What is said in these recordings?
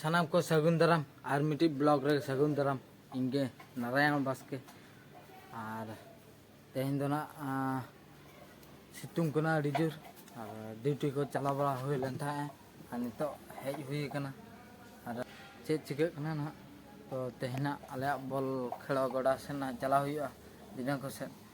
ᱥᱟᱱᱟᱢ ᱠᱚ ᱥᱟᱹᱜᱩᱱ ᱫᱟᱨᱟᱢ ᱟᱨ ᱢᱤᱫᱴᱤᱡ ᱵᱞᱚᱜ ᱨᱮ ᱥᱟᱹᱜᱩᱱ ᱫᱟᱨᱟᱢ ᱤᱧ ᱜᱮ ᱱᱟᱨᱟᱭᱚᱱ ᱵᱟᱥᱠᱮ ᱟᱨ ᱛᱮᱦᱮᱧ ᱫᱚ ᱱᱟᱜ ᱥᱤᱛᱩᱝ ᱠᱟᱱᱟ ᱟᱹᱰᱤ ᱡᱳᱨ ᱟᱨ ᱰᱤᱭᱩᱴᱤ ᱠᱚ ᱪᱟᱞᱟᱣ ᱵᱟᱲᱟ ᱦᱩᱭ ᱞᱮᱱ ᱛᱟᱦᱮᱸᱜᱼᱟ ᱟᱨ ᱱᱤᱛᱚᱜ ᱦᱮᱡ ᱦᱩᱭ ᱟᱠᱟᱱᱟ ᱟᱨ ᱪᱮᱫ ᱪᱤᱠᱟᱹᱜ ᱠᱟᱱᱟ ᱱᱟᱜ ᱛᱚ ᱛᱮᱦᱮᱧᱟᱜ ᱟᱞᱮᱭᱟᱜ ᱵᱚᱞ ᱠᱷᱮᱞᱚ ᱜᱚᱰᱟ ᱥᱮᱱ ᱱᱟᱜ ᱪᱟᱞᱟᱣ ᱦᱩᱭᱩᱜᱼᱟ ᱫᱷᱤᱱᱟᱹᱱ ᱠᱚᱥᱮᱫ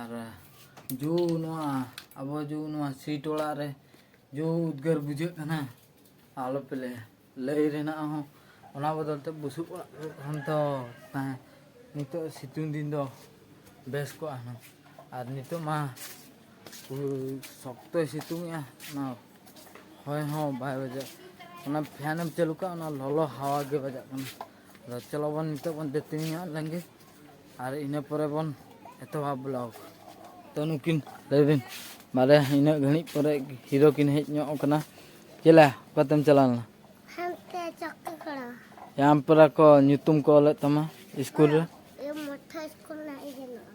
ᱟᱨ ᱡᱩ ᱱᱚᱣᱟ ᱟᱵᱚ ᱡᱩ ᱱᱚᱣᱟ ᱥᱤᱴ ᱚᱲᱟᱜ ᱨᱮ ᱡᱩ ᱩᱫᱽᱜᱟᱹᱨ ᱵᱩᱡᱷᱟᱹᱜ ᱠᱟᱱᱟ ᱟᱞᱚ ᱯᱮ ᱞᱟᱹᱭᱟ ᱞᱟᱹᱭ ᱨᱮᱱᱟᱜ ᱦᱚᱸ ᱚᱱᱟ ᱵᱚᱫᱚᱞ ᱛᱮ ᱵᱩᱥᱩᱵ ᱚᱲᱟᱜ ᱠᱷᱟᱱ ᱫᱚ ᱛᱟᱦᱮᱸ ᱱᱤᱛᱚᱜ ᱥᱤᱛᱩᱝ ᱫᱤᱱ ᱫᱚ ᱵᱮᱥ ᱠᱚᱜᱼᱟ ᱦᱩᱱᱟᱹᱝ ᱟᱨ ᱱᱤᱛᱚᱜ ᱢᱟ ᱥᱚᱠᱛᱚᱭ ᱥᱤᱛᱩᱝᱮᱜᱼᱟ ᱚᱱᱟ ᱦᱚᱭ ᱦᱚᱸ ᱵᱟᱭ ᱵᱟᱡᱟᱜ ᱚᱱᱟ ᱯᱷᱮᱱᱮᱢ ᱪᱟᱹᱞᱩ ᱠᱟᱜᱼᱟ ᱚᱱᱟ ᱞᱚᱞᱚ ᱦᱟᱣᱟ ᱜᱮ ᱵᱟᱡᱟᱜ ᱠᱟᱱᱟ ᱟᱫᱚ ᱪᱚᱞᱚ ᱵᱚᱱ ᱱᱤᱛᱚᱜ ᱵᱚᱱ ᱫᱟᱹᱛᱟᱹᱱᱤ ᱧᱚᱜ ᱞᱮᱱ ᱜᱮ ᱟᱨ ᱤᱱᱟᱹ ᱯᱚᱨᱮ ᱵᱚᱱ ᱮᱛᱚᱦᱚᱵ ᱵᱞᱚᱜᱽ ᱛᱚ ᱱᱩᱠᱤᱱ ᱞᱟᱹᱭ ᱵᱤᱱ ᱢᱟᱨᱮ ᱤᱱᱟᱹᱜ ᱜᱷᱟᱹᱲᱤᱡ ᱯᱚᱨᱮ ᱦᱤᱨᱳ ᱠᱤᱱ ᱦᱮᱡ ᱧᱚᱜ ᱟᱠᱟᱱᱟ ᱪᱮᱞᱟ ᱚᱠᱟᱛᱮᱢ ᱪᱟᱞᱟᱣ ᱞᱮᱱᱟ ᱦᱟᱱᱛᱮ ᱪᱚᱠᱠᱟ ᱠᱚᱲᱟ ᱭᱟᱢᱯᱨᱟ ᱠᱚ ᱧᱩᱛᱩᱢ ᱠᱚ ᱚᱞᱮᱫ ᱛᱟᱢᱟ ᱥᱠᱩᱞ ᱨᱮ ᱢᱚᱴᱷᱟ ᱥᱠᱩᱞ ᱨᱮᱱᱟᱜ ᱤᱭᱟᱹ ᱢᱮᱱᱟᱜᱼᱟ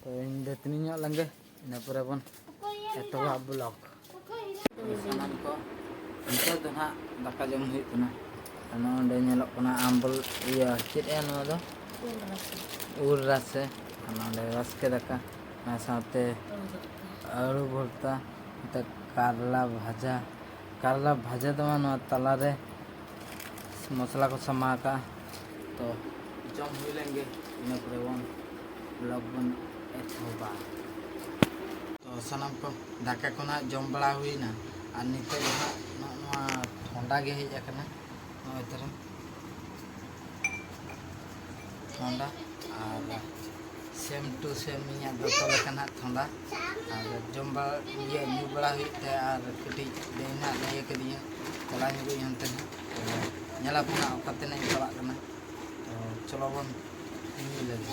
ᱛᱚ ᱤᱧ ᱫᱟᱹᱛᱟᱹᱱᱤ ᱧᱚᱜ ᱞᱮᱱᱜᱮ ᱤᱱᱟᱹ ᱯᱚᱨᱮ ᱵᱚᱱ ᱮᱛᱚᱦᱚᱵᱟ ᱵᱞᱚᱜ ᱥᱟᱱᱟᱢ ᱠᱚ ᱱᱤᱛᱚᱜ ᱫᱚ ᱦᱟᱸᱜ ᱫᱟᱠᱟ ᱡᱚᱢ ᱦᱩᱭᱩᱜ ᱠᱟᱱᱟ ᱟᱨ ᱱᱚᱰᱮ ᱧᱮᱞᱚᱜ ᱠᱟᱱᱟ ᱟᱢᱵᱚᱞ ᱤᱭᱟᱹ ᱪᱮᱫ ᱭᱟ ᱱᱚᱣᱟ ᱫᱚ ᱩᱞ ᱨᱟᱥᱮ ᱟᱨ ᱱᱚᱰᱮ ᱵᱟᱥᱠᱮ ᱫᱟᱠᱟ ᱚᱱᱟ ᱥᱟᱶᱛᱮ ᱟᱹᱞᱩ ᱵᱷᱚᱨᱛᱟ ᱱᱚᱛᱮ ᱠᱟᱨᱞᱟ ᱵᱷᱟᱡᱟ ᱠᱟᱨᱞᱟ ᱵᱷᱟᱡᱟ ᱫᱚ ᱵᱟᱝ ᱱᱚᱣᱟ ᱛᱟᱞᱟᱨᱮ ᱢᱚᱥᱞᱟ ᱠᱚ ᱥᱟᱢᱟ ᱟᱠᱟᱜᱼᱟ ᱛᱚ ᱡᱚᱢ ᱦᱩᱭ ᱞᱮᱱ ᱜᱮ ᱤᱱᱟᱹ ᱯᱚᱨᱮ ᱵᱚᱱ ᱵᱞᱚᱜ ᱵᱚᱱ ᱮᱛᱚᱦᱚᱵᱟ ᱛᱚ ᱥᱟᱱᱟᱢ ᱠᱚ ᱫᱟᱠᱟ ᱠᱚ ᱱᱟᱦᱟᱜ ᱡᱚᱢ ᱵᱟᱲᱟ ᱦᱩᱭᱱᱟ ᱟᱨ ᱱᱤᱛᱚᱜ ᱫᱚ ᱱᱟᱦᱟᱜ ᱱᱚᱜᱼᱚ ᱱᱚᱣᱟ ᱴᱷᱚᱱᱰᱟ ᱜᱮ ᱦᱮᱡ ᱟᱠᱟᱱᱟ ᱱᱚᱜᱼᱚᱭ ᱛᱟᱨᱟ ᱛᱷᱚᱸᱫᱟ ᱟᱨ ᱥᱮᱢ ᱴᱩ ᱥᱮᱢ ᱤᱧᱟᱹᱜ ᱫᱚᱛᱚ ᱞᱮᱠᱟ ᱱᱟᱦᱟᱜ ᱛᱷᱚᱸᱫᱟ ᱟᱨ ᱡᱚᱢ ᱵᱟᱲᱟ ᱤᱭᱟᱹ ᱧᱩ ᱵᱟᱲᱟ ᱦᱩᱭᱩᱜ ᱛᱮ ᱟᱨ ᱠᱟᱹᱴᱤᱡ ᱫᱟᱹᱭ ᱱᱟᱦᱟᱜ ᱞᱟᱹᱭ ᱟᱠᱟᱫᱤᱧᱟ ᱪᱟᱞᱟᱣ ᱧᱚᱜᱚᱜ ᱤᱧ ᱚᱱᱛᱮ ᱱᱟᱦᱟᱜ ᱧᱮᱞ ᱟᱵᱚᱱ ᱱᱟᱦᱟᱜ ᱚᱠᱟ ᱛᱮᱱᱟᱜ ᱤᱧ ᱪᱟᱞᱟᱜ ᱠᱟᱱᱟ ᱛᱚ ᱪᱚᱞᱚ ᱵᱚᱱ ᱧᱩ ᱞᱮᱜᱮ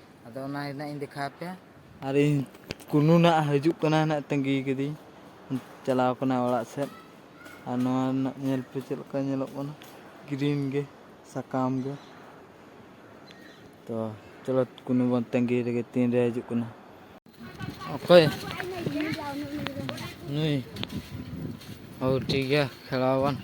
ᱟᱫᱚ ᱚᱱᱟ ᱦᱮᱱᱟᱜ ᱤᱧ ᱫᱮᱠᱷᱟᱣ ᱯᱮᱭᱟ ᱟᱨ ᱤᱧ ᱠᱩᱱᱩ ᱱᱟᱜ ᱦᱤᱡᱩᱜ ᱠᱟᱱᱟ ᱱᱟᱜ ᱛᱟᱺᱜᱤ ᱠᱟᱹᱫᱤᱧ ᱪᱟᱞᱟᱣ ᱠᱟᱱᱟ ᱚᱲᱟᱜ ᱥᱮᱫ ᱟᱨ ᱱᱚᱣᱟ ᱨᱮᱱᱟᱜ ᱧᱮᱞ ᱯᱮ ᱪᱮᱫ ᱞᱮᱠᱟ ᱧᱮᱞᱚᱜ ᱠᱟᱱᱟ ᱜᱨᱤᱱ ᱜᱮ ᱥᱟᱠᱟᱢ ᱜᱮ ᱛᱚ ᱪᱚᱞᱚ ᱠᱩᱱᱩ ᱵᱚᱱ ᱛᱟᱺᱜᱤ ᱨᱮᱜᱮ ᱛᱤᱱᱨᱮ ᱦᱤᱡᱩᱜ ᱠᱟᱱᱟ ᱚᱠᱚᱭ ᱱᱩᱭ ᱦᱳ ᱴᱷᱤᱠ ᱜᱮᱭᱟ ᱠᱷᱮᱞᱟᱣ ᱵᱚᱱ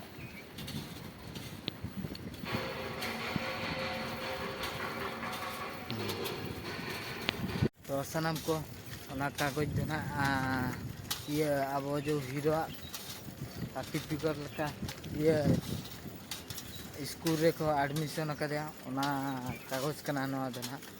ᱛᱚ ᱥᱟᱱᱟᱢ ᱠᱚ ᱚᱱᱟ ᱠᱟᱜᱚᱡᱽ ᱫᱚ ᱱᱟᱦᱟᱜ ᱤᱭᱟᱹ ᱟᱵᱚ ᱡᱮ ᱦᱤᱨᱳᱣᱟᱜ ᱥᱟᱨᱴᱤᱯᱷᱤᱠᱮᱴ ᱞᱮᱠᱟ ᱤᱭᱟᱹ ᱥᱠᱩᱞ ᱨᱮᱠᱚ ᱮᱰᱢᱤᱥᱚᱱ ᱟᱠᱟᱫᱮᱭᱟ ᱚᱱᱟ ᱠᱟᱜᱚᱡᱽ ᱠᱟᱱᱟ ᱱᱚᱣᱟ ᱫᱚ ᱱᱟᱦᱟᱜ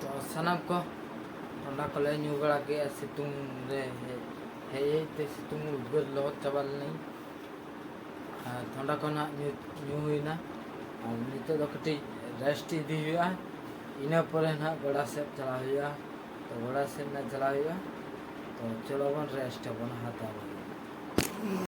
ᱛᱚ ᱥᱟᱱᱟᱢ ᱠᱚ ᱚᱱᱟ ᱠᱚᱞᱮ ᱧᱩ ᱵᱟᱲᱟ ᱠᱮᱫᱼᱟ ᱥᱤᱛᱩᱝ ᱨᱮ ᱦᱮᱡ ᱦᱮᱡ ᱛᱮ ᱥᱤᱛᱩᱝ ᱩᱫᱽᱜᱟᱹᱨ ᱞᱚᱦᱚᱫ ᱪᱟᱵᱟ ᱞᱮᱱᱟᱹᱧ ᱟᱨ ᱛᱷᱚᱸᱰᱟ ᱠᱚ ᱱᱟᱦᱟᱜ ᱧᱩ ᱧᱩ ᱦᱩᱭᱱᱟ ᱟᱨ ᱱᱤᱛᱚᱜ ᱫᱚ ᱠᱟᱹᱴᱤᱡ ᱨᱮᱥᱴ ᱤᱫᱤ ᱦᱩᱭᱩᱜᱼᱟ ᱤᱱᱟᱹ ᱯᱚᱨᱮ ᱱᱟᱦᱟᱜ ᱜᱚᱰᱟ ᱥᱮᱫ ᱪᱟᱞᱟᱣ ᱦᱩᱭᱩᱜᱼᱟ ᱛᱚ ᱜᱚᱰᱟ ᱥᱮᱫ ᱱᱟᱦᱟᱜ ᱪᱟᱞᱟᱣ ᱦᱩᱭᱩᱜᱼᱟ ᱛᱚ ᱪᱚᱞᱚ ᱵᱚᱱ ᱨᱮᱥᱴ ᱟᱵᱚᱱ ᱦᱟᱛᱟᱣ ᱟᱵᱚᱱ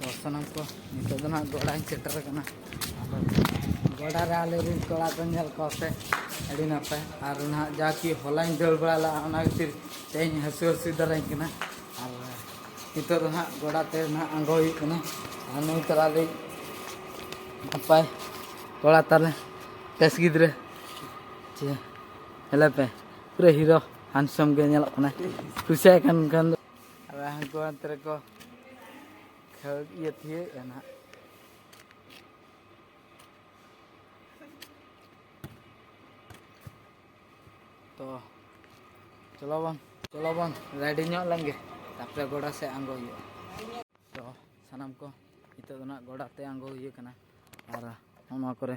ᱛᱚ ᱥᱟᱱᱟᱢ ᱠᱚ ᱱᱤᱛᱚᱜ ᱫᱚ ᱱᱟᱦᱟᱜ ᱜᱚᱰᱟᱧ ᱥᱮᱴᱮᱨ ᱟᱠᱟᱱᱟ ᱟᱫᱚ ᱜᱚᱰᱟ ᱨᱮ ᱟᱞᱮ ᱨᱮᱱ ᱠᱚᱲᱟ ᱠᱚ ᱧᱮᱞ ᱠᱚᱣᱟ ᱯᱮ ᱟᱹᱰᱤ ᱱᱟᱯᱟᱭ ᱟᱨ ᱱᱟᱦᱟᱜ ᱡᱟ ᱠᱤ ᱦᱚᱞᱟᱧ ᱫᱟᱹᱲ ᱵᱟᱲᱟ ᱞᱮᱫᱼᱟ ᱚᱱᱟ ᱠᱷᱟᱹᱛᱤᱨ ᱛᱮᱦᱮᱧ ᱦᱟᱹᱥᱩ ᱦᱟᱹᱥᱩ ᱫᱟᱨᱟᱧ ᱠᱟᱱᱟ ᱟᱨ ᱱᱤᱛᱚᱜ ᱫᱚ ᱱᱟᱦᱟᱜ ᱜᱚᱰᱟ ᱛᱮ ᱱᱟᱦᱟᱜ ᱟᱬᱜᱚ ᱦᱩᱭᱩᱜ ᱠᱟᱱᱟ ᱟᱨ ᱱᱩᱭ ᱛᱟᱞᱟ ᱨᱮ ᱱᱟᱯᱟᱭ ᱠᱚᱲᱟ ᱛᱟᱞᱮ ᱴᱮᱥ ᱜᱤᱫᱽᱨᱟᱹ ᱪᱮ ᱦᱮᱞᱮ ᱯᱮ ᱯᱩᱨᱟᱹ ᱦᱤᱨᱳ ᱦᱟᱱᱥᱚᱢ ᱜᱮ ᱧᱮᱞᱚᱜ ᱠᱟᱱᱟᱭ ᱠᱩᱥᱤᱭᱟᱭ ᱠᱟᱱ ᱠᱷᱟᱱ ᱫᱚ ᱟᱨ ᱦᱟᱹᱱᱠᱩ ᱦᱟᱱᱛᱮ ᱨᱮᱠᱚ ᱠᱷᱟᱹᱲ ᱤᱭᱟᱹ ᱛᱷᱤᱭᱟᱹᱭᱮᱫᱼᱟ ᱱᱟᱦᱟᱜ ᱛᱚ ᱪᱚᱞᱚ ᱵᱚᱱ ᱪᱚᱞᱚ ᱵᱚᱱ ᱨᱮᱰᱤ ᱧᱚᱜ ᱞᱮᱱ ᱜᱮ ᱛᱟᱯᱚᱨᱮ ᱜᱚᱰᱟ ᱥᱮᱫ ᱟᱬᱜᱚ ᱦᱩᱭᱩᱜᱼᱟ ᱛᱚ ᱥᱟᱱᱟᱢ ᱠᱚ ᱱᱤᱛᱚᱜ ᱫᱚ ᱱᱟᱦᱟᱜ ᱜᱚᱰᱟ ᱛᱮ ᱟᱬᱜᱚ ᱦᱩᱭᱩᱜ ᱠᱟᱱᱟ ᱟᱨ ᱱᱚᱣᱟ ᱠᱚᱨᱮ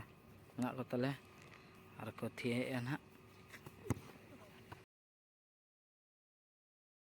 ᱢᱮᱱᱟᱜ ᱠᱚ ᱛᱟᱞᱮ ᱟᱨ ᱠᱚ ᱛᱷᱤᱭᱟᱹᱭᱮᱫᱼᱟ ᱱᱟᱦᱟᱜ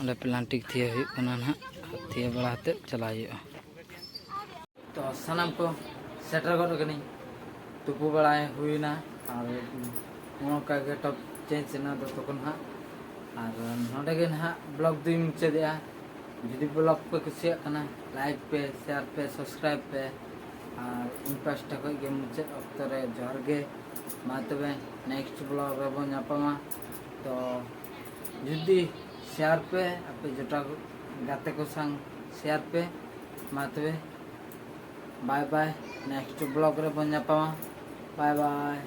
ᱚᱸᱰᱮ ᱯᱞᱟᱱᱴᱤᱠ ᱛᱷᱤᱭᱟᱹ ᱦᱩᱭᱩᱜ ᱠᱟᱱᱟ ᱱᱟᱦᱟᱜ ᱛᱷᱤᱭᱟᱹ ᱵᱟᱲᱟ ᱠᱟᱛᱮᱫ ᱪᱟᱞᱟᱜ ᱦᱩᱭᱩᱜᱼᱟ ᱛᱚ ᱥᱟᱱᱟᱢ ᱠᱚ ᱥᱮᱴᱮᱨ ᱜᱚᱫ ᱠᱟᱹᱱᱟᱹᱧ ᱛᱩᱯᱩ ᱵᱟᱲᱟᱭ ᱦᱩᱭᱱᱟ ᱟᱨ ᱱᱚᱝᱠᱟ ᱜᱮ ᱴᱚᱯ ᱪᱮᱧᱡᱽ ᱮᱱᱟ ᱫᱚᱛᱚ ᱠᱚ ᱱᱟᱦᱟᱜ ᱟᱨ ᱱᱚᱰᱮ ᱜᱮ ᱱᱟᱦᱟᱜ ᱵᱞᱚᱜ ᱫᱩᱧ ᱢᱩᱪᱟᱹᱫᱮᱜᱼᱟ ᱡᱩᱫᱤ ᱵᱞᱚᱜ ᱯᱮ ᱠᱩᱥᱤᱭᱟᱜ ᱠᱟᱱᱟ ᱞᱟᱭᱤᱠ ᱯᱮ ᱥᱮᱭᱟᱨ ᱯᱮ ᱥᱟᱵᱥᱠᱨᱟᱭᱤᱵ ᱯᱮ ᱟᱨ ᱤᱧ ᱯᱟᱥᱴᱟ ᱠᱷᱚᱱ ᱜᱮ ᱢᱩᱪᱟᱹᱫ ᱚᱠᱛᱚ ᱨᱮ ᱡᱚᱦᱟᱨ ᱜᱮ ᱢᱟ ᱛᱚᱵᱮ ᱱᱮᱠᱥᱴ ᱵᱞᱚᱜ ᱨᱮᱵᱚᱱ ᱧᱟᱯᱟᱢᱟ ᱛᱚ ᱡᱩᱫᱤ ᱥᱮᱭᱟᱨ ᱯᱮ ᱟᱯᱮ ᱡᱚᱴᱟᱣ ᱜᱟᱛᱮ ᱠᱚ ᱥᱟᱝ ᱥᱮᱭᱟᱨ ᱯᱮ ᱢᱟ ᱛᱚᱵᱮ ᱵᱟᱭ ᱵᱟᱭ ᱱᱮᱠᱥᱴ ᱵᱞᱚᱜ ᱨᱮᱵᱚᱱ ᱧᱟᱯᱟᱢᱟ ᱵᱟᱭ ᱵᱟᱭ